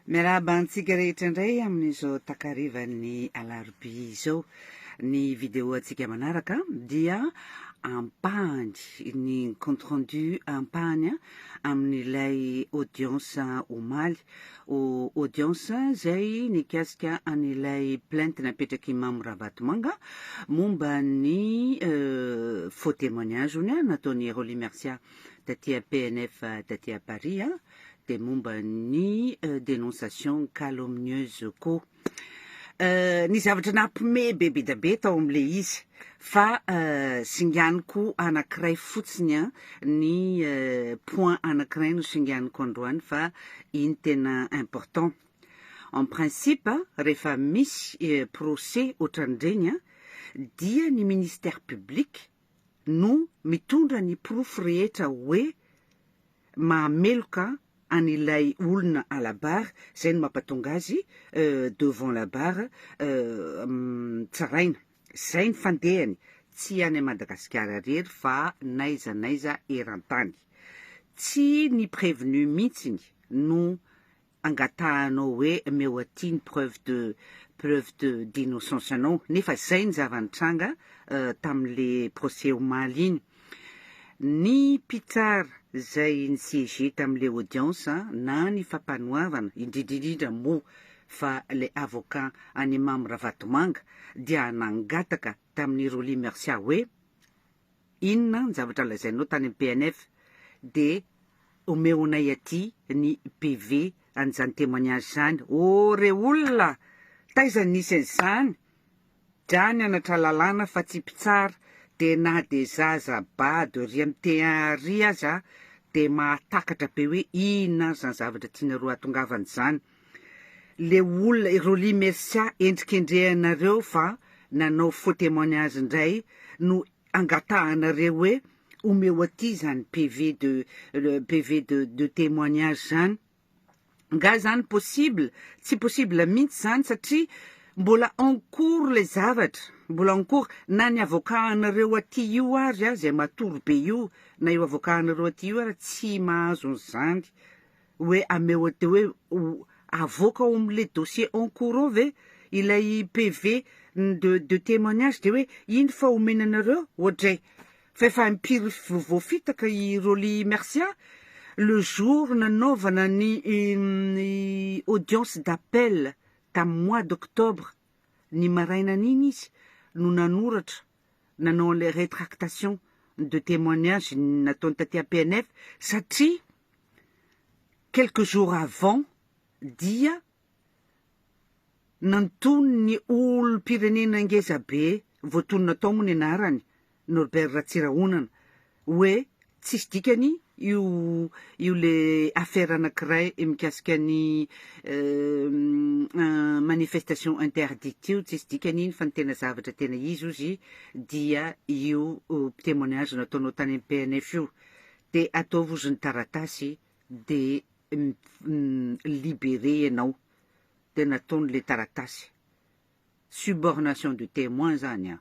Miarahaba antsika rehetra indray amin'izao takarivan'ny alarobia izao. Ny vidéo antsika manaraka dia ampahany ny compte rendu ampahany amin'ilay audience omaly. O audience izay nikasika an'ilay plainte napetrak'i Mamo Rabatomanga momba ny euh, faux témoignage-ny nataon'i Rolly Mercia taty PNF taty Paris. dia momba ny dénonciation calomnieuse koa ny zavatra nampime be be dia be tao amin'ilay izy fa singaniko anankiray fotsiny an ny point anankiray no singaniko androany fa iny tena important en principe rehefa misy procès ohatran'ireny dia ny ministère public no mitondra ny porofo rehetra hoe mahameloka an ilay olona à la barre zay no mapatonga azy devant la barre tsaraina zay ny fandehany tsy any Madagasikara rery fa n'aiza n'aiza eran-tany tsy ny prévenu mintsiny no angatahanao hoe meo aty ny preuve de preuve de d'innocence anao nefa zay ny zava-nitranga tamin'le procès omaly iny. Ny mpitsara zay ni-siéger tamin'le audience na ny fampanoavana indrindra indrindra moa fa le avocat an'i Mamy Ravatomanga dia nangataka tamin'i Rolly Mercia hoe Inona ny zavatra lazainao tany am PNF de omeonay aty ny PV an'izany témoignage zany ô re olona taiza nisy an'izany dra nianatra lalàna fa tsy mpitsara de na de zaza bado ry am T1 ary aza de mahatakatra be hoe inona ary zany zavatra tianareo ahatongavana zany. Le olona i Rolly Mercia endrikendrehanareo fa nanao faux témoignage ndray no angatahanareo hoe omeo aty zany PV de PV de de témoignage zany. Nga zany possible? Tsy possible mintsy zany satria mbola en cours le zavatra, mbola en cours na ny avocat anareo aty io ary a zay matory be io na io avocat anareo aty io ary tsy mahazo anzany. Hoe ameo de hoe ho avoaka ao amin le dossier en cours ao ve ilay PV de de témoignage de hoe iny fa omena anareo oadray fa efa impiry voafitaka i Rolly Mercia le jour nanaovana ny audience d'appel tam mois d'octobre ny marainan'iny izy no nanoratra nanao an'ilay rétractation de témoignage nataony taty APNF satria quelques jours avant dia nanton'ny olom-pirenena ngezabe, voatonona tao moa ny anarany, Norbert Ratsirahonana, Oe tsisy dikany io io le affaire anakiray mikasika ny manifestation interdite io tsisy dikany iny fa ny tena zavatra tena izy ozy dia io témoignage nataonao tany am PNF io de ataovy ozy ny taratasy de libere ianao de nataony le taratasy subornation de témoin zany an!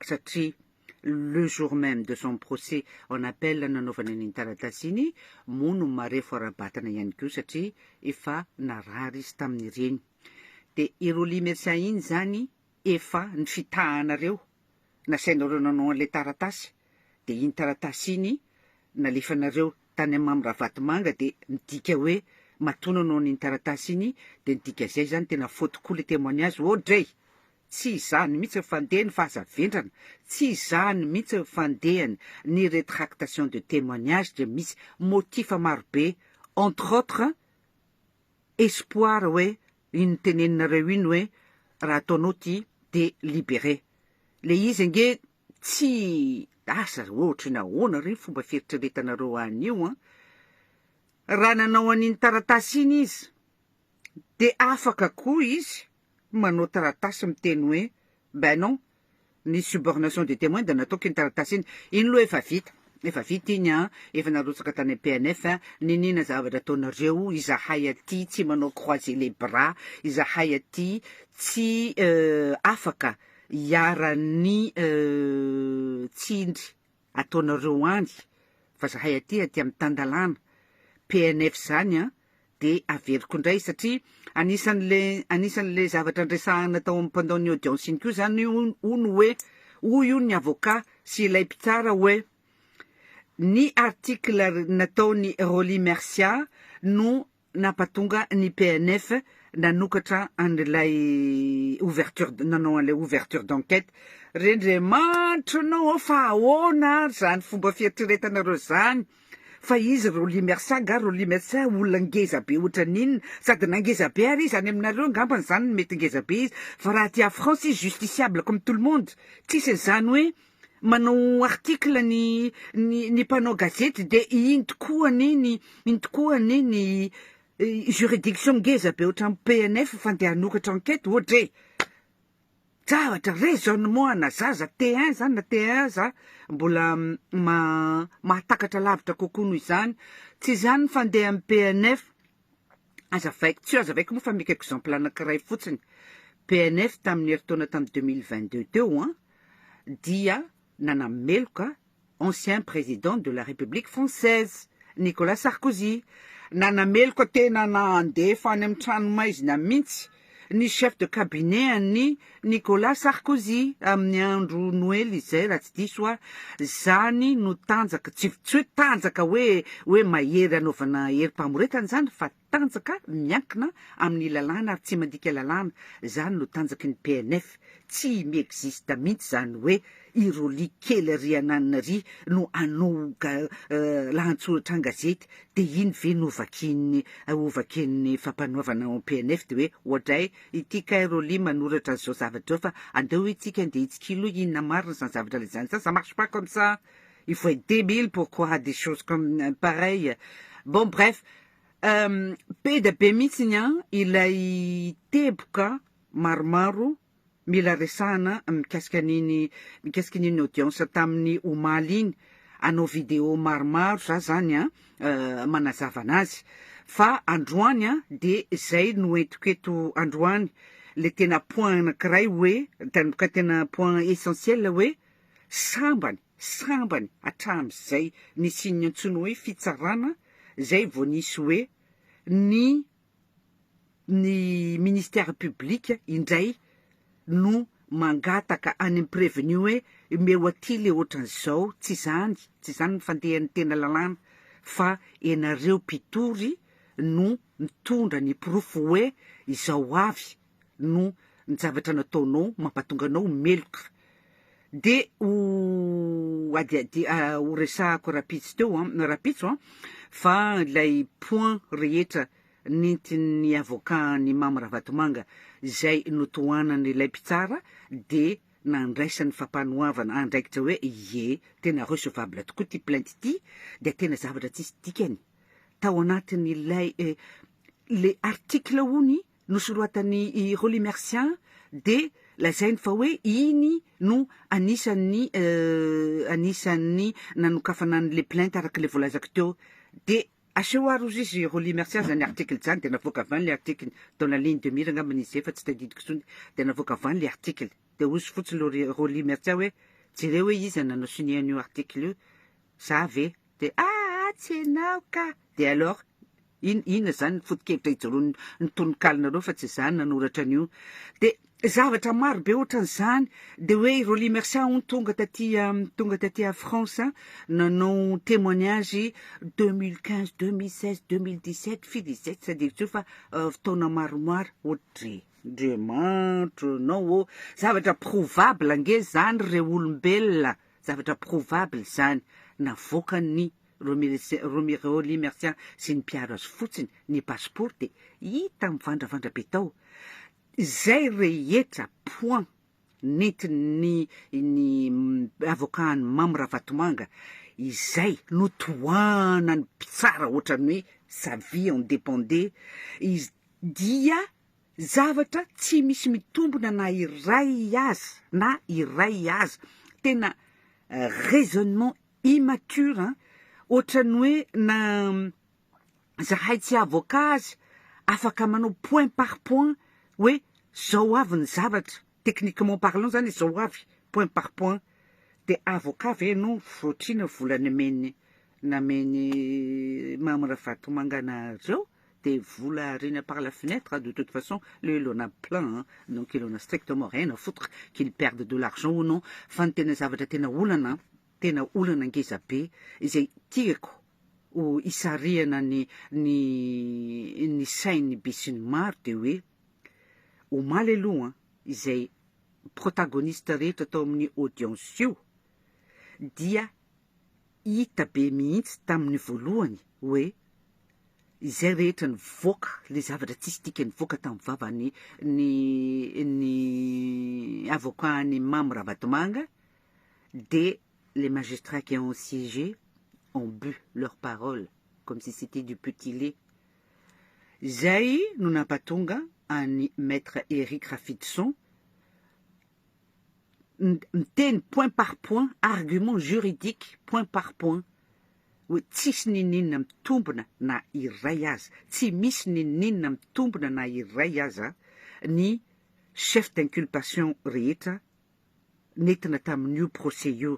satria le jour même de son procès en appel nanaovany an'iny taratasy iny moa no marefo ara-batana ihany koa satria efa narary izy tamin'ireny. Dia i Rolly Mercia iny izany efa ny fitahanareo nasainareo nanao an'ilay taratasy dia iny taratasy iny nalefanareo tany amin'i Mamy Ravatomanga dia midika hoe matoa nanao an'iny taratasy iny dia ny dika izay izany tena faute koa ilay témoignage ô dray! Tsy izany mihitsy ny fandehany fa aza vendrana, tsy izany mihitsy ny fandehany, ny rétractation de témoignage dia misy motif marobe entre autres espoir hoe iny noteneninareo iny hoe raha ataonao ity dia libéré le izy ange tsy asa ry ohatra ny ahoana ry fomba fieritreretanareo anio an! Raha nanao an'iny taratasy iny izy. Dia afaka koa izy manao taratasy miteny hoe ben non, ny subornation de temoin dia nataoko iny taratasy iny, iny loha efa vita, efa vita iny an, efa narotsaka tany am PNF an, niniana zavatra ataonareo, izahay aty tsy manao croiser les bras, izahay aty tsy afaka hiaran'ny tsindry ataonareo any fa zahay aty aty am tandalana PNF zany an de averiko ndray satria anisanle anisanle zavatra ndresahana tao am pendant ny audience iny ko zany hono oe hoy hono ny avocat sy ilay mpitsara oe ny article nataony Rolly Mercia no nampatonga ny PNF nanokatra an'ilay ouverture, nanao an'ilay ouverture d'enquête. Rendriamanitra anao ao fa ahoana ary izany fomba fieritreretanareo izany? Fa izy Rolly Mersa angaha Rolly Mersa olona ngeza be ohatran'inona? Sady na ngeza be ary izy any aminareo angambany izany no mety ngeza be izy fa raha aty à France izy justiciable comme tout le monde. Tsisy an'izany hoe manao article ny ny ny mpanao gazety de iny tokoa anie ny iny tokoa anie ny juridiction ngeza be ohatran'ny PNF fa ndeha hanoratra enquête ohatra e! Zavatra, raisonnement ana zaza T1 zany na T1 za mbola mahatakatra lavitra kokoa noho izany, tsy izany ny fandehan'ny PNF, Azavaiko tsy eo, azavaiko moa fa mekako exemple anankiray fotsiny. PNF tamin'ny herintaona tamin'ny 2022 teo an, dia nanameloka ancien président de la République française, Nicolas Sarkozy. Nanameloka tena nandefa any amin'ny tranomaizina mihitsy ny chef de cabinet an'i Nicolas Sarkozy amin'ny andro noely izay raha tsy diso aho, izany no tanjaka, tsy hoe tanjaka hoe hoe mahery hanaovana herim-pamoretana izany fa tanjaka miankina amin'ny lalàna ary tsy mandika lalàna, izany no tanjaky ny PNF, tsy mi-existe mihitsy izany hoe I Rolly kely ry ananina ry no anoga lahatsoratra an-gazety dia iny ve no vakian'ny hovakian'ny fampanoavana ao PNF dia hoe oadray ity kay Rolly manoratra an'izao zavatra izao fa andeo itsika andeha hitsikilo hoe inona marina izany zavatra ilay zany sa ça marche pas comme ça il faut être débile pour croire des choses comme pareilles bon bref Peda be mihitsy ny an ilay teboka maromaro Mila resahana mikasika an'iny mikasika an'iny audience tamin'ny omaly iny, hanao vidéo maromaro za zany an, manazava anazy. Fa androany an de zay no entiko eto androany, le tena point anakiray hoe, tena tena point essentiel hoe, sambany, sambany hatramin'izay nisian'ny antsoina hoe fitsarana zay vao nisy hoe ny ny ministère public indray no mangataka any amin'ny prévenu hoe omeo aty le ohatran'izao, tsy izany, tsy izany ny fandehan'ny tena lalàna fa ianareo mpitory no mitondra ny porofo hoe izao avy no njavatra nataonao mampatonga anao ho meloka de ho adiadi ho resahako rapitso teo an rapitso an fa ilay point rehetra nentin'ny avocat ny Mamy Ravatomanga izay notohanany ilay mpitsara de nandraisany fampanoavana andraikitra hoe ie tena recevable tokoa ity plainte ity dia tena zavatra tsisy dikany tao anatin'ilay le article hono Nosoratan'i Rolly Mercia dia lazainy fa hoe iny no anisan'ny anisan'ny nanokafana an'ilay plainte araka ilay voalazako teo. Dia aseho ary hozy izy Rolly Mercia izany article izany dia navoaka avy any ilay article, dans la ligne de mire angambany izy izay fa tsy tadidiko intsony, dia navoaka avy any ilay article. Dia hozy fotsiny Rolly Mercia hoe jereo hoe iza nanao signer an'io article io, za ve? Dia aa tsy enao ka! Dia alors in inona izany ny foto-kevitra ijoroan'ny tononkalonareo fa tsy izaho nanoratra an'io. Dia zavatra maro be ohatran'izany. Dia hoe i Rolly Mercia hono tonga taty tonga taty à France an, nanao témoignage deux mille quinze, deux mille seize, deux mille dix sept, firy izay tsy adino intsony fa taona maromaro ohatry. Andriamanitra ianao ô! Zavatra prouvable ange izany re olombelona. Zavatra prouvable izany na voakan'ny Romireo Lee Mercian sy ny mpiaro azy fotsiny ny passeport dia hita mivandravandra be tao izay rehetra point nentin'ny ny avocat an'i Mamy Ravatomanga izay notohanan'ny mpitsara ohatran'ny hoe sa vie en dependait izy dia Zavatra tsy misy mitombona na iray aza na iray aza, tena raisonnement immature an! Ohatran'ny hoe na zahay tsy avocat aza afaka manao point par point hoe zao avy ny zavatra. Techniquement parlant zany izao avy point par point de avocat ve no frotrina vola nomen'ny namen'i Mamy Ravatomanga anareo de vola ariana par la fenêtre de toute façon le il en a plein hein donc il en a strictement rien à foutre qu'il perde de l'argent ou non fa ny tena zavatra tena olana tena olana ngeza be izay tiako ho isarihana ny ny ny sain'ny besinimaro de hoe Omaly aloha izay protagoniste rehetra tao amin'ny audience io dia hita be mihitsy tamin'ny voalohany hoe izay rehetra nivoaka le zavatra tsisy dikany nivoaka tamin'ny vavany ny ny avocat an'i Mamy Ravatomanga de les magistrats qui ont siégé ont bu leur parole comme si c'était du petit lait Izay no nampatonga an'i Maître Eric Rafidison miteny point par point, argument juridique point par point, hoe tsisy n'inon'inona mitombina na iray aza, tsy misy n'inon'inona mitombina na iray aza ny chefs d'inculpation rehetra nentina tamin'io procès io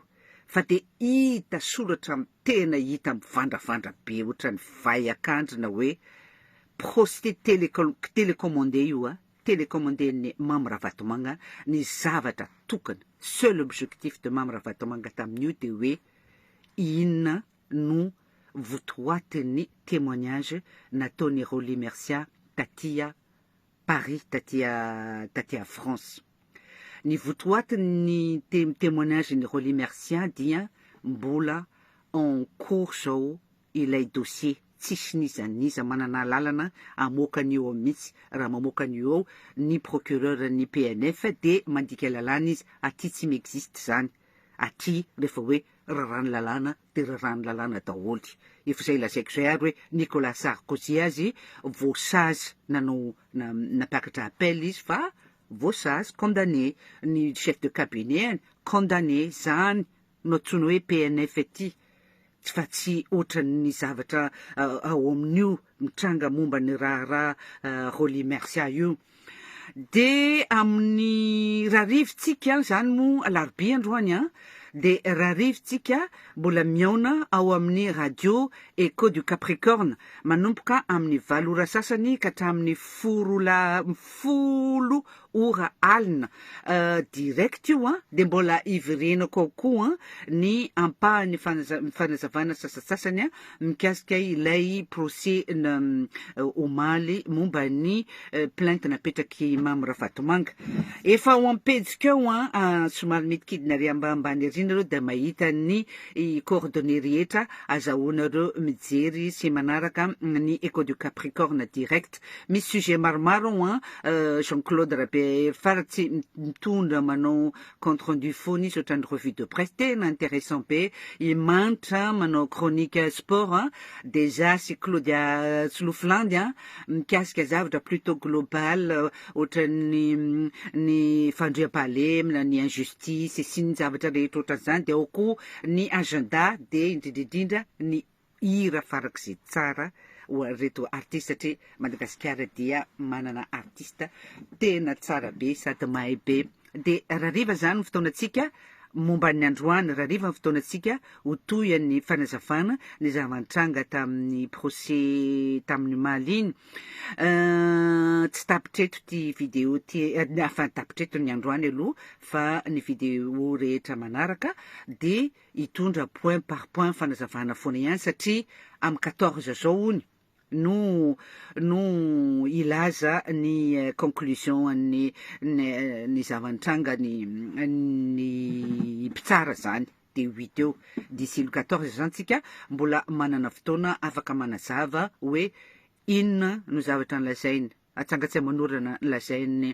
fa dia hita soratra amin'ny tena hita mivandravandra be ohatran'ny vay akandrina hoe prosti telecommande io a, telecommande-n'i Mamy Ravatomanga ny zavatra tokana, seul objectif de Mamy Ravatomanga tamin'io dia hoe inona no votoatin'ny témoignage nataon'i Rolly Mercia taty Paris taty à France. Ny votoatin'ny témoignage-n'i Rolly Mercia dia mbola en cours zao ilay dossier, tsisy n'iza n'iza manana alalana hamoaka an'io ao mihitsy, raha mamoaka an'io ao ny procureur-n'ny PNF dia mandika lalàna izy, aty tsy mi-existe zany, aty rehefa hoe raràn'ny lalàna dia raràn'ny lalàna daholo. Efa izay lazaiko izay ary hoe Nicolas Sarkozy azy voasazy nanao nampiakatra appel izy fa voasazy, condamné, ny chef de cabinet-any condamné, izany no antsoina hoe PNF ety fa tsy ohatran'ny zavatra ao amin'io mitranga momba ny raharaha Rolly Mercia io. Dia amin'ny rarivintsika, izany moa alarobia androany an, dia rarivintsika mbola mihaona ao amin'ny Radio Echo du Capricorne, manomboka amin'ny valo ora sasany ka hatramin'ny foro la folo ora alina direct io an, dia mbola hiverenako ao koa ny ampahany fanaza fanazavana sasatsasany mikasika ilay procès omaly momba ny plainte napetrak'i Mamy Ravatomanga. Efa ao am-pejiko ao an, somary midikidina ary ambanimbany ery nareo dia mahita ny coordonnées rehetra, azahoanareo mijery sy manaraka ny Echo du Capricorne direct. Misy sujet maromaro ao an, Jean Claude Rabearifaratsy mitondra manao compte rendu foana izy otrany revue de presse tena interessant be i Manitra manao chronique sport a de za sy Claudia Tsilofilandy a mikasika zavatra plutot global otrany ny fandriampahalemina ny injustice sy ny zavatra rehetra otran'izany de ao koa ny agenda de indrindra indrindra ny Hira farak'izay tsara ho an'ireto artiste satria Madagasikara dia manana artiste tena tsara be sady mahay be. Dia rariva izany ny fotoanantsika momba ny androany, rariva ny fotoanantsika ho toy an'ny fanazavana ny zava-nitranga tamin'ny procès tamin'ny omaly iny. Tsy tapitra eto ity video ity, enfin tapitra eto ny androany aloha fa ny video rehetra manaraka dia hitondra point par point fanazavana foana ihany satria amin'ny quatorze zao hono no no hilaza ny conclusion an'ny ny zava-nitranga ny ny mpitsara zany de huit eo d'ici le quatorze zany tsika mbola manana fotoana afaka manazava hoe inona no zavatra nolazainy atsangatsay manorana ny lazain'ny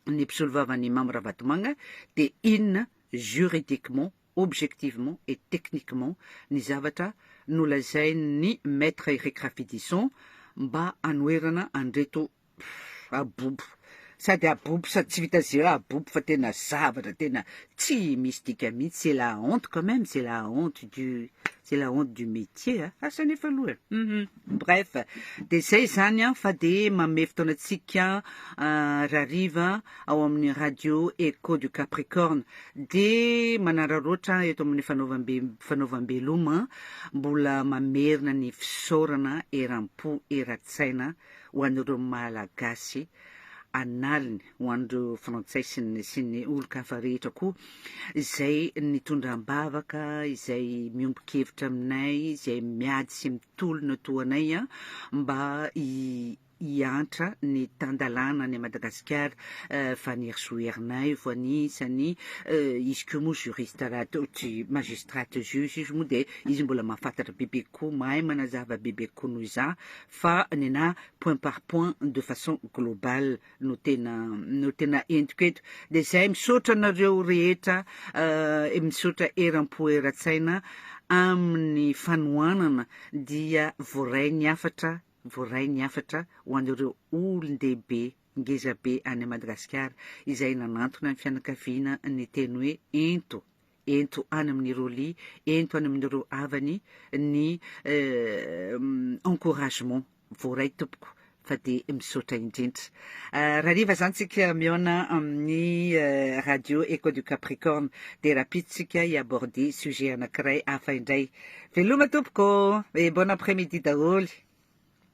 ny mpisolovavan'i Mamy Ravatomanga dia inona juridiquement, objectivement et techniquement ny zavatra nolazain'ny Maître Eric Rafidison mba hanoherana an'ireto abobo. Sady abobo sady tsy vita ze abobo fa tena zavatra tena tsy misy dika mihitsy, c'est la honte quand même, c'est la honte du c'est la honte du métier. Asa nefa aloha. Mhm. Bref, dia izay izany an, fa dia manome fotoana antsika rariva ao amin'ny radio Echo du Capricorne. Dia manararaotra eto amin'ny fanaovam-be fanaovam-beloma, mbola mamerina ny fisaorana eram-po eran-tsaina ho an'ireo Malagasy an'aliny. ho an'ireo Frantsay sy ny sy ny olon-kafa rehetra koa izay nitondra am-bavaka, izay miombon-kevitra aminay, izay miady sy mitolona toa anay an, mba hi- hiantra ny tan-dalàna any Madagasikara eh, Fanirisoa Ernaivo anisany eh, izy koa moa juriste raha toa ohatry magistrate juge izy moa dia izy mbola mahafantatra bebe kokoa, mahay manazava bebe kokoa noho izaho fa nenà point par point de façon globale no tena no tena entiko eto dia zay misaotra anareo rehetra eh, misaotra eram-po eran-tsaina amin'ny fanohanana dia voaray ny hafatra voaray ny hafatra ho an'ireo olon-dehibe ngezabe any Madagasikara izay nanantona ny fianakaviana ny teny hoe ento ento any amin'ny Rolly, ento any amin'ireo havany ny eh, encouragement voaray tompoko fa dia misaotra indrindra euh, rariva zany tsika mihaona amin'ny euh, radio eco du capricorne dia rapitsika hiaborde sujet anankiray hafa indray veloma tompoko e bon après midi daholo